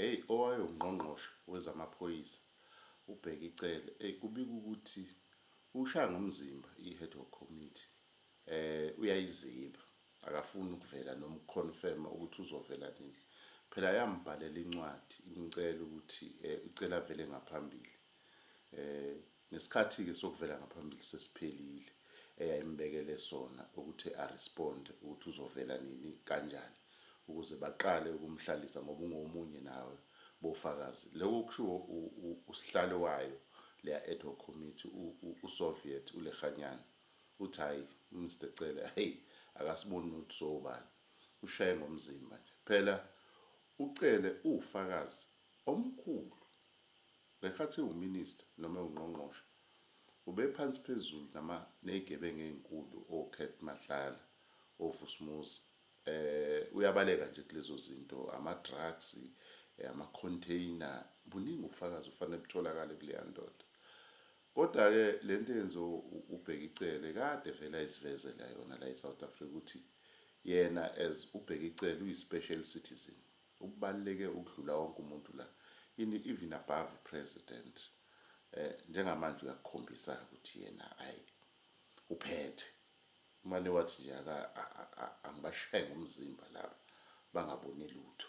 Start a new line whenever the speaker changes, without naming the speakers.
Eyi owayewungqongqoshe wezamaphoyisa uBheki Cele eyi kubikwa ukuthi ushaya ngomzimba i-head hoc committee um uyayiziba akafuni ukuvela noma ukuconfirma ukuthi uzovela nini. Phela yambhalela incwadi imcela ukuthi um icela avele ngaphambili um Ngesikhathi-ke sokuvela ngaphambili sesiphelile eyayimbekele sona ukuthi a respond ukuthi uzovela nini kanjani ukuze baqale ukumhlalisa ngoba ungomunye nawe bofakazi lokho kushiwo usihlalo wayo leya ad hoc committee uSoviet uLekganyane uthi hayi uMr Cele hey akasiboni ukuthi sowubani ushaye ngomzimba nje phela uCele uwufakazi omkhulu Ngesikhathi ewuMinister noma ewuNgqongqoshe ubephansi phezulu nama nezigebengu ezinkulu oKurt Matlala, oVusumuzi eh uyabaleka nje kulezo zinto ama drugs, ama container buningi ubufakazi obufanele butholakale kuleya ndoda. Kodwa ke lento eyenziwe uBheki Cele kade vele ayizivezela yona la eSouth Africa ukuthi yena as uBheki Cele uyi special citizen. Okubaluleke ukudlula wonke umuntu la ini even above i president njengamanje uyakukhombisa ukuthi yena ay uphethe umane wathi nje angibashaye ngomzimba laba bangaboni lutho.